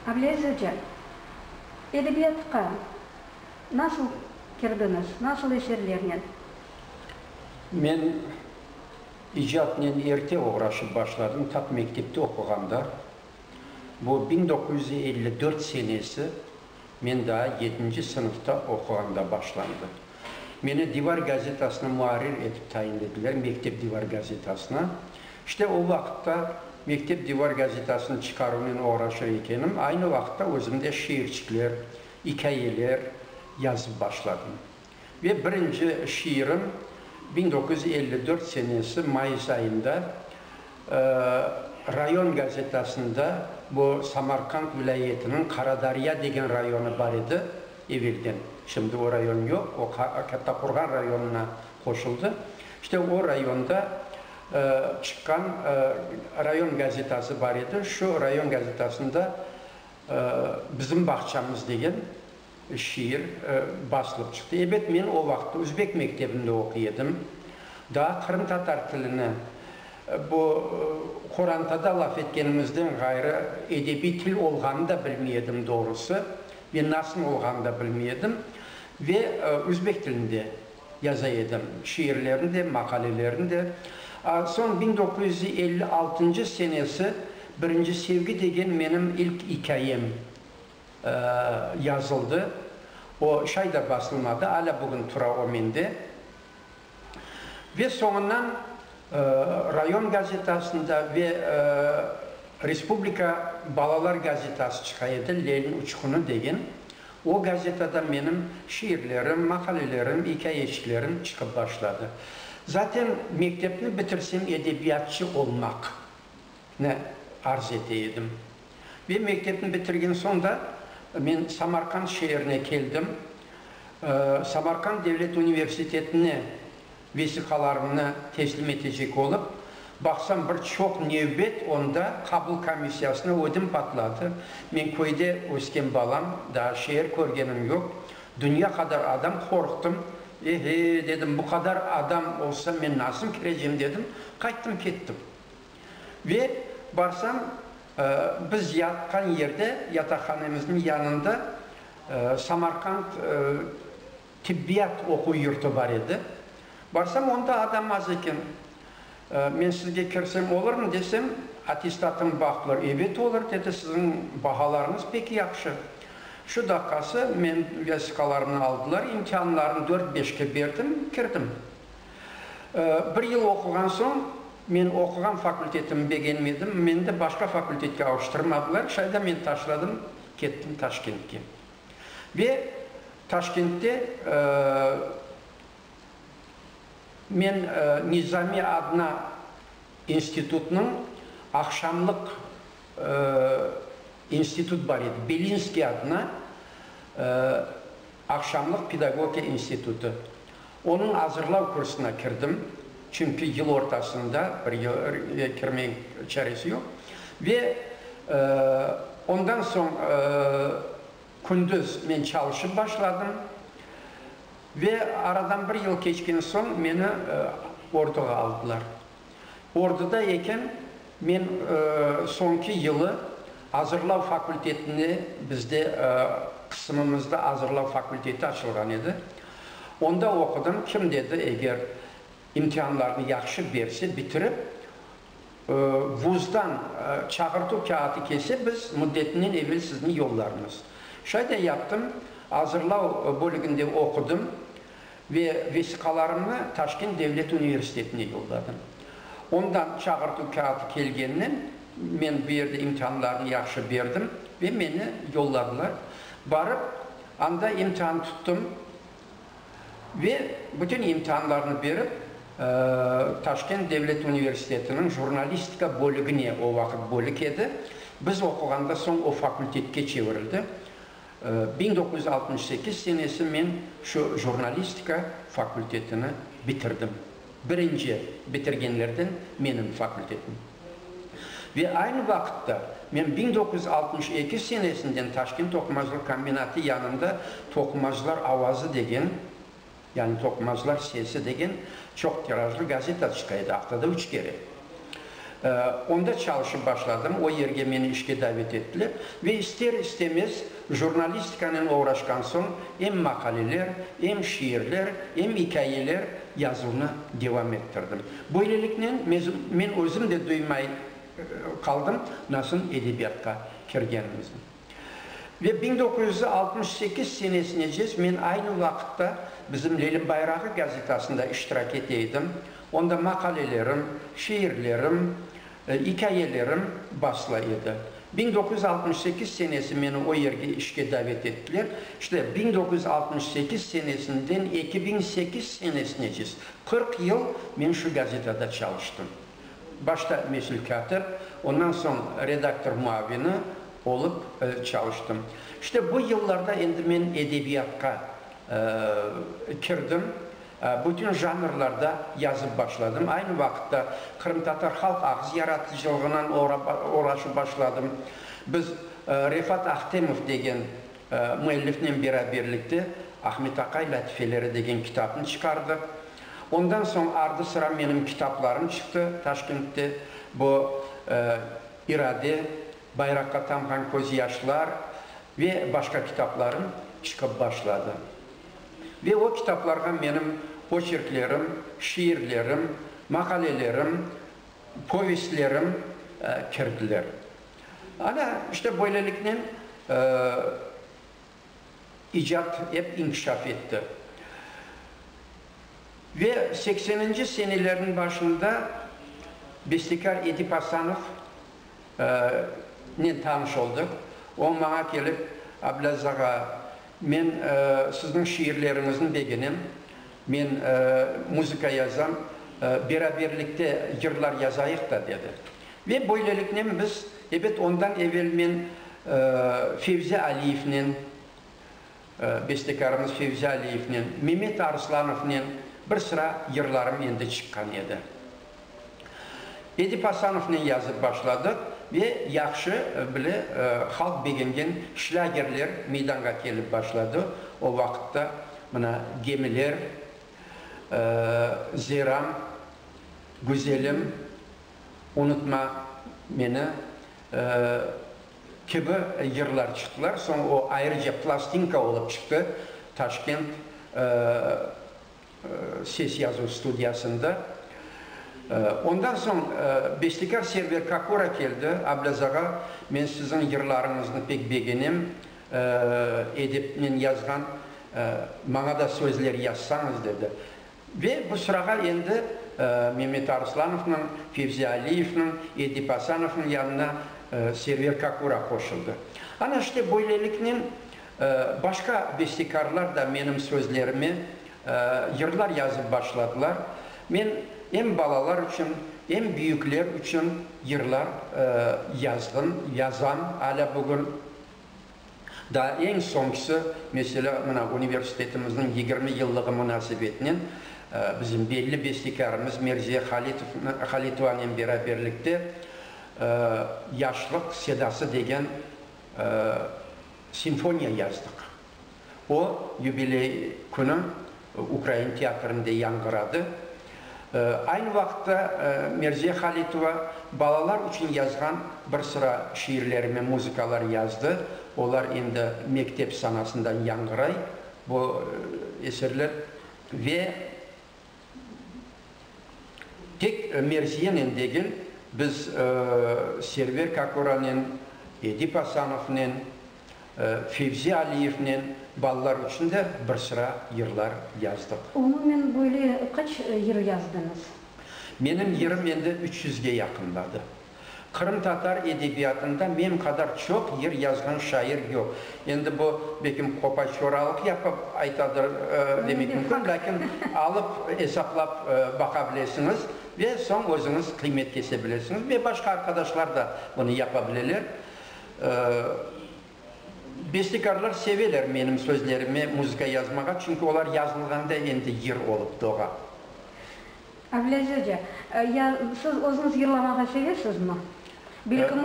Ableaziz oca, edebiyatqa nasıl kirdiñiz, nasıl eserlernen? Men icatnen erte oğraşıp başladım, tap mektepte oquğanda, bu biñ doquz yüz elli dört senesi. Men daa yedinci sınıfta oquğanda başlandı. Meni Divar gazetasına muarrir etip tayinlediler, mektep Divar gazetasına. İşte, o vaqıtta mektep Divar gazetasını çıqaruvnen oğraşır ekenim, aynı vaqıtta özüm de şiirçikler, ikâyeler yazıp başladım. Ve birinci şiirim biñ doquz yüz elli dört senesi mayıs ayında rayon gazetasında, bu Samarqand vilâyetiniñ Qaradarya degen rayonı bar edi evelden, şimdi o rayon yoq, o Kattaqurğan rayonına qoşuldı, işte o rayonda çıqqan rayon gazetası bar edi, şu rayon gazetasında Bizim bağçamız degen. Şiir basılıp çıqtı. Ebet, men o vaqıt üzbek mektebinde oquy edim. Daa qırımtatar tilini bu qorantada laf etkenimizden ğayrı edebiy til olğanını da bilmey edim doğrusı. Ve nasıl olğanını da bilmey edim. Ve üzbek tilinde yaza edim şiirlerini de, maqalelerini de. Soñ biñ doquz yüz elli altıncı senesi Birinci sevgi degen menim ilk ikâyem yazıldı, o şay da basılmadı, alâ bugün tura o mende. Ve soñundan rayon gazetasında ve Respublika balalar gazetası çıqa edi, Lelniñ uçqunı degen, o gazetada menim şiirlerim, maqalelerim, ikâyeçiklerim çıqıp başladı. Zaten mektepni bitirsem edebiyatçı olmaqnı arz ete edim. Ve mektepni bitirgen soñ da men Samarqand şeerine keldim. Samarqand devlet universitetine vesiqalarımnı teslim etecek olıp baqsam, bir çoq nevbet, onda qabul komissiyasına ödüm patladı. Men köyde ösken balam, daa şeer körgenim yoq. Dünya qadar adam, qorqtım. E-he, dedim, bu qadar adam olsa, men nasıl kirecem, dedim, qayttım kettim. Ve barsam, biz yatqan yerde, yataqhanemizniñ yanında Samarqand tibbiyat oquv yurtu bar edi. Barsam, onda adam az eken. Men sizge kirsem olurmı desem, attestatım baqlı. Ebet olur, dedi, siziñ bahalarıñız pek yahşı. Şu daqqası men vesiqalarımnı aldılar, imtianlarım dört-beşke berdim, kirdim. Bir yıl oquğan soñ, men oquğan fakultetimni begenmedim, meni de başqa fakultetke avuştırmadılar, şayda men taşladım, kettim Taşkentke. Ve Taşkentte men Nizami adına institutnıñ aqşamlıq institut bar edi, Belinskiy adına, Aqşamlıq pedagogiya institutı. Onıñ azırlav kursına kirdim, çünki yıl ortasında bir yere kirmey çaresi yoq. Ve ondan soñ kündüz men çalışıp başladım. Ve aradan bir yıl keçken soñ meni orduğa aldılar. Orduda eken, men soñki yılı azırlav fakultetinde, bizde qısımımızda azırlav fakulteti açılğan edi, onda oqudım. Kim dedi, eger imtihanlarnı yahşı berse, bitirip, vuzdan çağırtuv kâğıtı kelse, biz müddetinden evel sizni yollarmız. Şayda yaptım, azırlav bölüginde oqudım. Ve vesiqalarımnı Taşkent devlet universitetine yolladım. Ondan çağırtuv kâğıtı kelgenden, men bu yerde imtihanlarnı yahşı berdim ve meni yolladılar. Barıp, anda imtihan tuttum ve bütün imtihanlarnı berip, Taşkent devlet universitetiniñ jurnalistika bölügine, o vaqıt bölük edi, biz oquğanda soñ o fakültetke çevirildi. Biñ doquz yüz altmış sekiz senesi men şu jurnalistika fakultetini bitirdim. Birinci bitirgenlerden menim fakultetim. Ve aynı vaqıtta men biñ doquz yüz altmış eki senesinden Taşkent toqumacılıq kombinatı yanında Toqumacılar avazı degen Yani Toqmazlar sesi degen çoq tirajlı gazeta çıqa edi, aftada üç kere. Onda çalışıp başladım, o yerge meni işke davet ettiler. Ve ister-istemez jurnalistikanen oğraşqan soñ em maqaleler, em şiirler, em ikâyeler yazuvnı devam ettirdim. Böyleliknen, men özüm de duymay qaldım, nasıl edebiyatqa kirgenimizni. Ve biñ doquz yüz altmış sekiz senesinecez men aynı vaqıtta bizim Lelim bayrağı gazetasında iştirak ete edim, onda maqalelerim, şiirlerim, ikâyelerim basıla edi. Biñ doquz yüz altmış sekiz senesi meni o yerge işke davet ettiler. İşte, biñ doquz yüz altmış sekiz senesinden eki biñ sekiz senesinecez, qırq yıl men şu gazetada çalıştım. Başta mesul kâtip, ondan soñ redaktor muavini olıp çalıştım. İşte bu yıllarda endi men edebiyatqa kirdim, bütün janrlarda yazıp başladım. Aynı vaqıtta qırımtatar halq ağız yaratıcılığınan oğraşıp başladım. Biz Refat Ahtemov degen Müellifnen beraberlikte Ahmet Aqay lâtifeleri degen kitabnı çıqardıq. Ondan soñ ardı-sıra menim kitaplarım çıqtı Taşkentte. Bu, İrade, Bayraqqa tamğan közyaşlar ve başqa kitaplarım çıqıp başladı. Ve o kitaplarğa menim oçerklerim, şiirlerim, maqalelerim, povestlerim kirdiler. Ana, işte, böyleliknen icat ep inkişaf etti. Ve sekseninci senelerniñ başında bestekâr Edip Asanov nen tanış oldıq. O maña kelip, Ablâz ağa, men sizniñ şiirleriñizni begenem, men muzıka yazam, beraberlikte yırlar yazayıq da, dedi. Ve böyleliknen biz, ebet, ondan evel men Fevzi Aliyevnen, bestekarımız Fevzi Aliyevnen, Memet Arslanofnen bir sıra yırlarım endi çıqqan edi. Edip Asanovnen yazıp başladıq ve yahşı bile halq begengen şlâgerler meydanğa kelip başladı. O vaqıtta mına Gemiler, Zeram, Güzelim. Unutma meni kibi yırlar çıqtılar, soñ o ayrıca plastinka olıp çıqtı Taşkent ses yazuv studiyasında. Ondan soñ bestekâr Server Kakura keldi, Ablâz ağa, men siziñ yırlarıñıznı pek begenem, edepnen yazğan, maña da sözler yazsañız, dedi. Ve bu sırağa endi Memet Aruslanovnıñ, Fevzi Aliyevniñ, Edip Asanovnıñ yanına Server Kakura qoşuldı. Ana işte böyleliknen başqa bestekarlar da menim sözlerime yırlar yazıp başladılar. Men em balalar içün, em büyükler içün yırlar yazdım, yazam alâ bugün. Daa eñ soñkisi, meselâ, mına, universitetimizniñ yigirmi yıllığı munasebetinen bizim belli bestekârımız Merziye Halitovna, Halitovanen beraberlikte Yaşlıq sedası degen simfoniya yazdıq. O, yubiley künü Ukrain teatrinde yañğıradı. Aynı vaqıtta Merziye Halitova balalar içün yazğan bir sıra şiirler ve muzıkalar yazdı. Olar endi mektep sanasından yañğıray, bu eserler. Ve tek Merziyenen degil, biz Server Kakoranen, Edip Asanovnen, Fevzi Aliyevnen balalar içün de bir sıra yırlar yazdıq. Umumen böyle qaç yır yazdıñız? Menim yırım endi üç yüzge yaqınladı. Qırımtatar edebiyatında men qadar çoq yır yazğan şair yoq. Endi bu, belkim, qopa-qoralıq yapıp aytadır demek mümkün, lâkin alıp esaplap baqa bilesiñiz ve soñ özüñiz qıymet kese bilesiñiz ve başqa arqadaşlar da bunı yapa bileler. Bestekarlar seveler menim sözlerime muzıka yazmağa, çünki olar yazılğanda endi yır olıp doğa. Ablaziz oca, ya siz özüñiz yırlamağa sevesizmi? Belkim,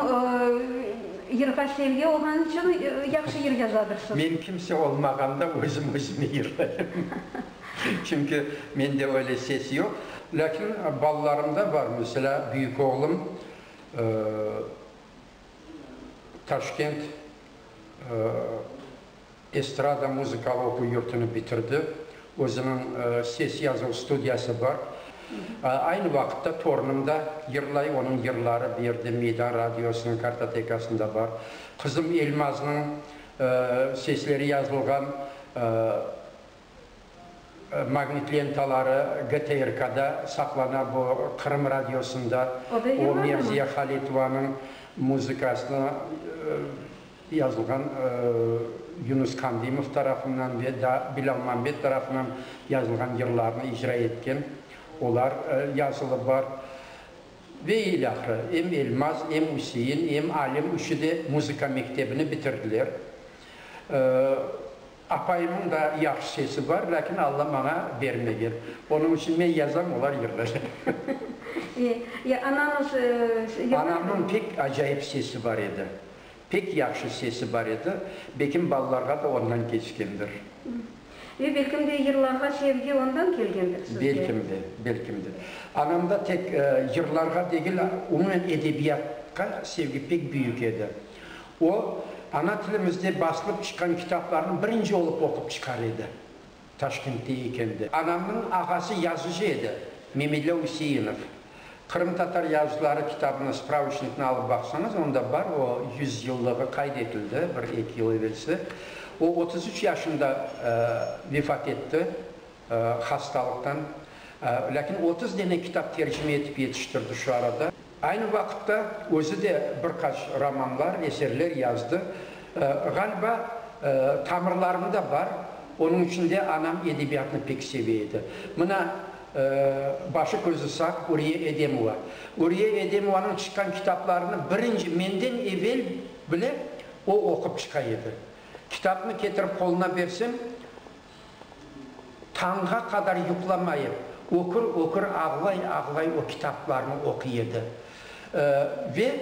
yırğa sevgi olğanı içün yahşı yır yazadırsız? Men kimse olmağanda özüm özüme yırlayım. Çünki mende öyle ses yoq. Lâkin balalarımda bar, meselâ, büyük oğlum, Taşkent estrada muzıkalı oquv yurtını bitirdi. Özüniñ ses yazuv studiyası bar. Aynı vaqıtta torunım da yırlay, onıñ yırları bu yerde Meydan Radiosınıñ kartotekasında bar. Qızım Elmaznıñ sesleri yazılğan Magnit lentaları GTRKda saqlana, bu Qırım Radiosında o Mevziye Halitovanıñ muzıkasına yazılğan Yunus Kandımov tarafından ve da Bilâlmambet tarafından yazılğan yırlarnı icra etken olar yazılı bar. Ve ilâhre, em Elmaz, em Üsein, em Alim üçü de muzıka mektebini bitirdiler. Apayımnıñ da yahşı sesi bar, lâkin Alla maña bermegen. Onıñ içün men yazam, olar yığlay. E, ananıñ yığlaymı? Anamnıñ pek acayip sesi bar edi. Pek yahşı sesi bar edi. Bekim balalarğa da ondan keçkendir. Ve belkim de yırlarğa sevgi ondan kelgendir sizge? Belkim de, belkim de. Anamda tek yırlarğa degil, umumen edebiyatqa sevgi pek büyük edi. O, ana tilimizde basılıp çıqqan kitaplarnı birinci olıp oqup çıqar edi. Taşkentte ekendi. Anamnıñ ağası yazıcı edi, Memedlâ Üseinov. Qırımtatar yazıcıları kitabını, spravıçnıknı alıp baqsañız, onda bar, o, yüz yıllığı qayd etildi bir, eki yıl evelsi. O, otuz üç yaşında vefat etti hastalıqtan. Lâkin otuz dene kitap tercime etip yetiştirdi şu arada. Aynı vaqıtta özü de bir qaç romanlar, eserler yazdı. Ğaliba, tamırlarında bar, onıñ içün de anam edebiyatnı pek seve edi. Mına, başı közü sağ, Uriye Edemova. Uriye Edemovanıñ çıqqan kitaplarını birinci menden evel bile o oqup çıqa edi. Kitapnı ketirip qoluna bersem, Tañğa qadar yuqlamayıp, ökür-ökür ağlay-ağlay o kitaplarnı oquy edi. Ve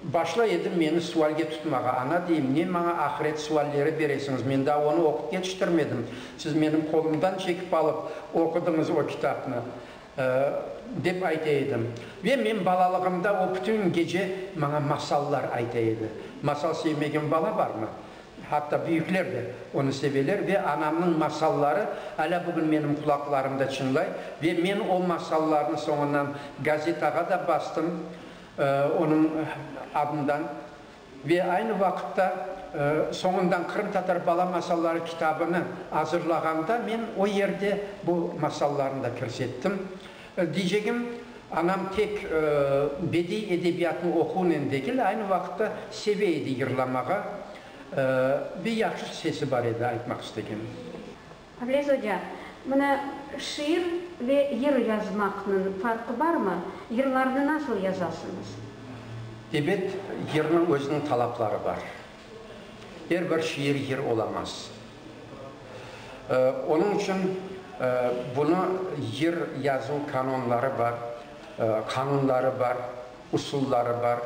başlay edi meni sualge tutmağa. Ana, deyim, ne maña ahiret sualleri beresiñiz, men daa onı oqup yetiştirmedim, siz menim qolumdan çekip alıp oqudıñız o kitapnı, dep ayta edim. Ve men balalığımda o bütün gece maña masallar ayta edi. Masal sevmegen bala barmı? Hatta büyükler de onı seveler ve anamnıñ masalları alâ bugün menim qulaqlarımda çıñlay ve men o masallarnı soñundan gazetağa da bastım onıñ adından ve aynı vaqıtta soñundan Qırımtatar bala masalları kitabını azırlağanda men o yerde bu masallarnı da kirsettim. Diycegim, anam tek bediy edebiyatnı oquvnen degil, aynı vaqıtta seve edi yırlamağa ve yahşı sesi bar edi, aytmaq istegim. Ableaz oca, mına şiir ve yır yazmaqnıñ farqı barmı? Yırlarnı nasıl yazasıñız? Ebet, yırnıñ özüniñ talapları bar. Er bir şiir yır olamaz. Onıñ içün bunı yer yazuv kanunları bar, qanunları bar, usulları bar.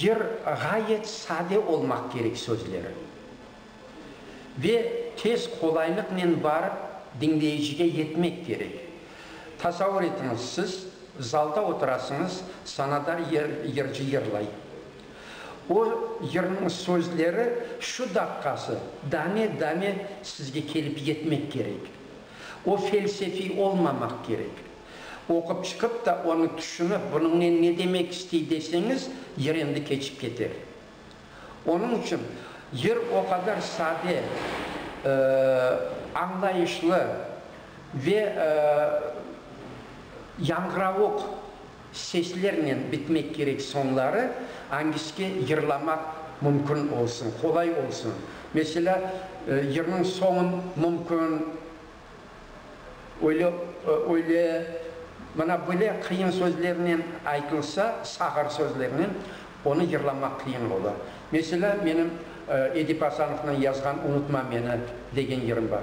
Yer ğayet sade olmaq kerek sözleri ve tez, qolaylıqnen barıp diñleyicige yetmek kerek. Tasavur etiñiz, siz zalda oturasıñız, sanadar yırcı yırlay, O yırnıñ sözleri şu daqqası dame-dame sizge kelip yetmek kerek. O felsefiy olmamaq kerek. Oqup çıqıp da onı tüşünip, bunıñnen ne demek istey deseñiz, yır endi keçip keter. Onıñ içün yır o qadar sade, añlayışlı ve yañğıravuq. Seslernen bitmek kerek soñları angisiga yırlamaq mümkün olsun, qolay olsun. Meselâ, yırnıñ soñun mümkün öyle, öyle, mına böyle qıyın sözlernen aytılsa, sağır sözlernen, Onı yırlamaq qıyın ola. Meselâ, menim Edip Asanovnıñ yazğan Unutma meni degen yırım bar.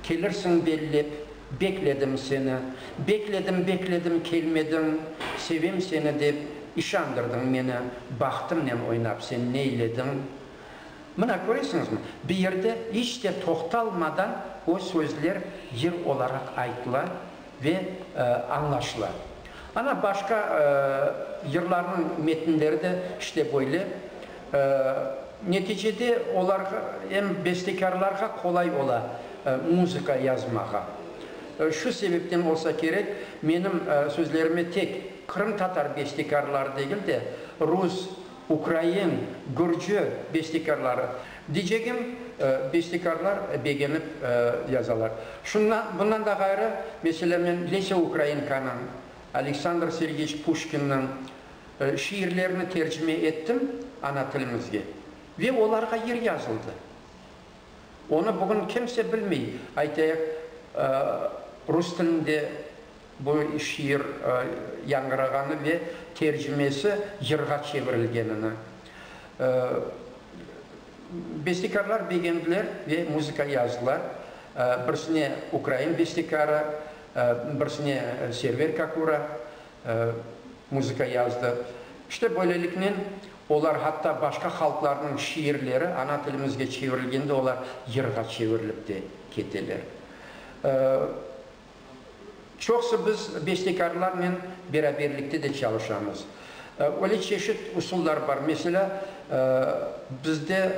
Kelirsiñ bellep, bekledim seni, Bekledim, bekledim, kelmediñ, Sevem seni dep, işandırdıñ meni, Bahtımnen oynap sen neylediñ? Mına, köresiñizmi, bir yerde iç te toqtalmadan o sözler yır olaraq aytıla. Ve añlaşıla. Ana başqa yırlarnıñ metinleri de işte böyle. Neticede olar em bestekârlarğa qolay ola muzıka yazmağa. Şu sebepten olsa kerek, menim sözlerime tek qırımtatar bestekârları degil de, rus, ukrain, gürcü bestekârları, Diycegim, bestekarlar begenip yazalar. Şundan, bundan da ğayrı, meselâ, men Lesâ Ukrainkanıñ, Aleksandr Sergeç Puşkinniñ şiirlerini tercime ettim ana tilimizge ve olarğa yer yazıldı. Onı bugün kimse bilmey, aytayıq, rus tilinde. Bu şiir yañırağanı ve tercimesi yırğa çevirilgenini bestekarlar begendiler ve muzıka yazdılar. Birsine ukrain bestekarı, birsine Server Kakura muzıka yazdı. İşte böyleliknen olar hatta başqa halqlarnıñ şiirleri ana tilimizge çevirilgende olar yırğa çevirilip de keteler. Çoqsı biz bestekarlarnen beraberlikte de çalışamız. Öyle çeşit usullar bar, meselâ, bizde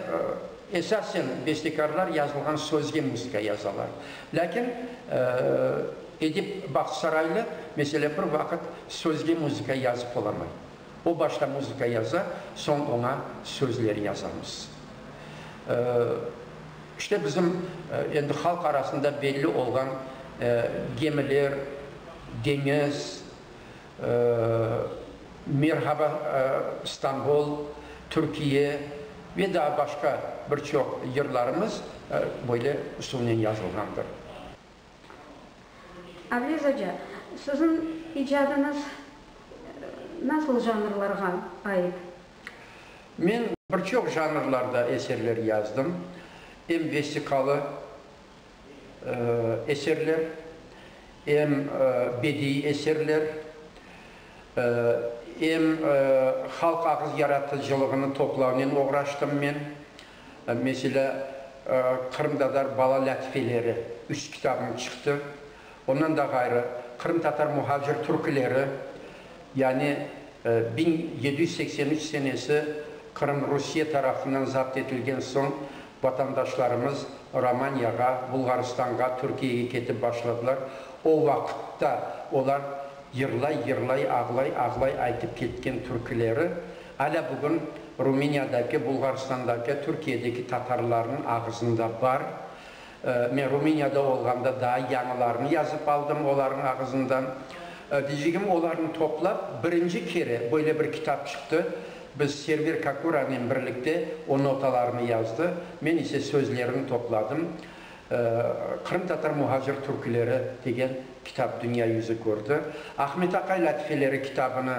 esasen bestekarlar yazılğan sözge musıka yazalar. Lâkin Edip Bahtsaraylı, meselâ, bir vaqıt sözge musıka yazıp olamay. O başta muzıka yaza, soñ oña sözler yazamız. İşte bizim endi halq arasında belli olğan Gemiler, Deñiz, Merhaba, İstanbul, Türkiye ve daa başqa bir çoq yırlarımız böyle usulnen yazılğandır. Aviz oca, siziñ icadınız nasıl janrlarğa ait? Men bir çoq janrlarda eserler yazdım, em vestikalı eserler, em bediiy eserler, em halq ağız yaratıcılığını toplavnen oğraştım men. Meselâ, qırımtatar bala lâtifeleri üç kitabım çıqtı. Ondan da ğayrı, qırımtatar muhacir türküleri, yani biñ yedi yüz seksen üç senesi Qırım Rusiye tarafından zapt etilgen soñ, vatandaşlarımız Romaniyağa, Bulğarstanğa, Türkiyege ketip başladılar. O vaqıtta olar yırlay-yırlay, ağlay-ağlay aytıp ketken türküleri. Alâ bugün Rumeniyadaki, Bulğarstandaki, Türkiyedeki tatarlarnıñ ağızında bar. Men Rumeniyada olğanda daa yañılarını yazıp aldım olarnıñ ağızından. Deycegim, olarnı toplap, birinci kere böyle bir kitap çıqtı. Biz Server Kakuranen birlikte o notalarnı yazdı, men ise sözlerini topladım. Qırımtatar muhacir türküleri degen kitap dünya yüzü kördi. Ahmet Aqay lâtifeleri kitabını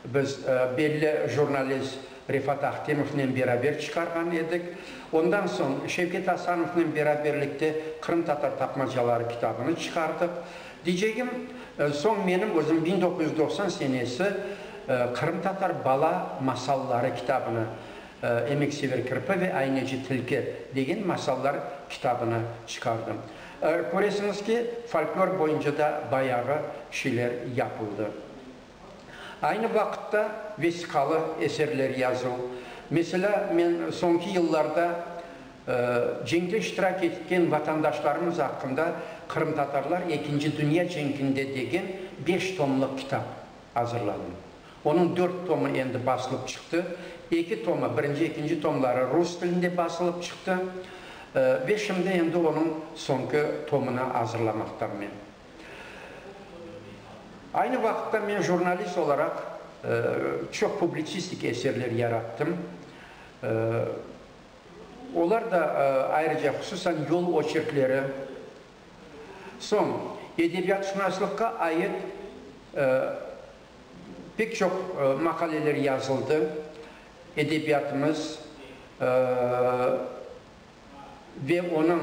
Biz belli jurnalist Refat Ahtemovnen beraber çıqarğan edik. Ondan soñ Şevket Asanovnen beraberlikte Qırımtatar tapmacaları kitabını çıqardıq. Diycegim, soñ menim özüm biñ doquz yüz doqsan senesi Qırımtatar bala masalları kitabını, Emeksever kirpi ve ayneci tilki degen masallar kitabını çıqardım. Köresiñiz ki, folklor boyunca da bayağı şeyler yapıldı. Aynı vaqıtta vesiqalı eserler yazıv, meselâ, men soñki yıllarda ceñde iştirak etken vatandaşlarımız aqqında Qırımtatarlar ekinci dünya cenkinde degen beş tomlıq kitap azırladım. Onıñ dört tomı endi basılıp çıqtı, eki tomı, birinci, ekinci tomları rus tilinde basılıp çıqtı ve şimdi endi onıñ soñki tomını azırlamaqtammen. Aynı vaqıtta men jurnalist olaraq çoq publitsistik eserler yarattım. Olar da ayrıca, hususan yol oçerkleri, soñ edebiyatşunaslıqqa ait pek çoq maqaleler yazıldı, edebiyatımız ve onıñ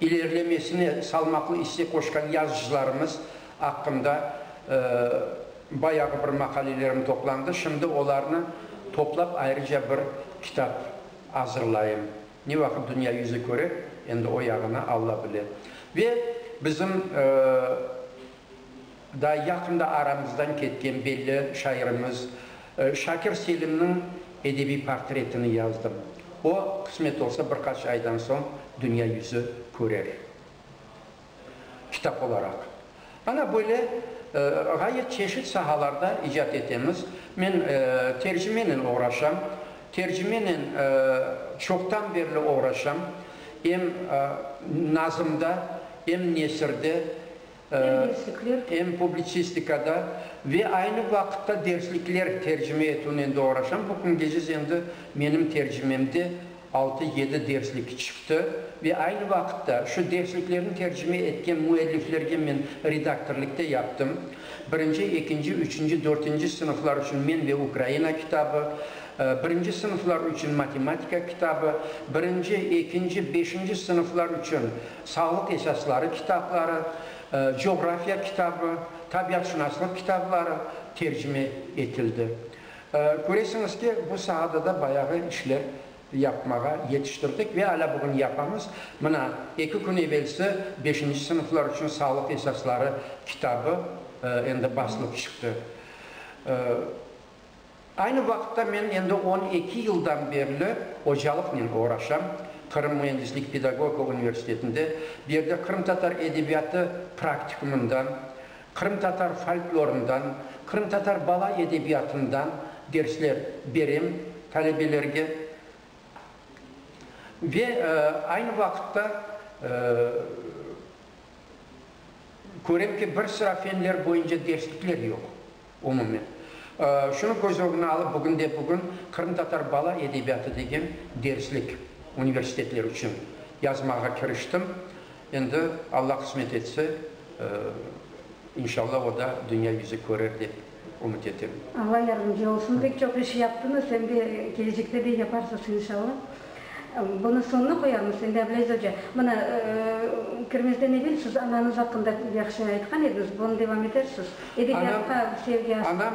ilerlemesine salmaqlı isse qoşqan yazıcılarımız aqqında bayağı bir maqalelerim toplandı, şimdi olarnı toplap ayrıca bir kitap azırlayım. Ne vaqıt dünya yüzü köre, endi o yağını Alla bile. Ve bizim. Daa yaqında aramızdan ketken belli şairimiz Şakir Selimniñ edebiy portretini yazdım. O, qısmet olsa, bir qaç aydan soñ dünya yüzü körer, kitap olaraq. Ana böyle ğayet çeşit sahalarda icat etemiz. Men tercimenen oğraşam, tercimenen çoqtan berli oğraşam. Em nazmda, em nesirde, Em publitsistikada ve aynı vaqıtta derslikler tercime etüvnen de oğraşam. Bu küngeziz endi menim tercimemde altı-yedi derslik çıqtı ve aynı vaqıtta şu dersliklerni tercime etken müelliflerge men redaktorlık da yaptım. Birinci, ekinci, üçünci, dörtünci sınıflar içün Men ve Ukraina kitabı, birinci sınıflar içün matematika kitabı, birinci, ekinci, beşinci sınıflar içün Sağlıq esasları kitapları, coğrafiya kitabı, tabiatşınaslıq kitapları tercime etildi. Köresiñiz ki, bu saada da bayağı işler yapmağa yetiştirdik ve alâ bugün yapamız. Mına, eki kün evelsi beşinci sınıflar içün sağlıq esasları kitabı endi basılıp çıqtı. Aynı vaqıtta men endi on eki yıldan berli ocalıqnen oğraşam, Qırım müendislik pedagogika universitetinde, bu yerde qırımtatar edebiyatı praktikumından, qırımtatar folklorından, qırımtatar bala edebiyatından dersler berem talebelerge. Ve aynı vaqıtta körem ki, bir sıra fenler boyunca derslikler yoq. Umumen, şunı köz ögüne alıp, bugünde-bugün qırımtatar bala edebiyatı degen derslik universitetler içün yazmağa kiriştim. Endi Alla qısmet etse, inşallah, o da dünya yüzü körer dep ümüt etem. Alla yardımcı olsun. Pek çoq iş yaptıñız, em de kelecekte de yaparsız, inşallah. Bunı soñuna qoyarmız, endi, Ableiz oca. Mına, kirmezden evel siz ananız aqqında yahşı aytqan ediñiz, bunı devam etersiz. Edebiyatqa sevgi. Anam.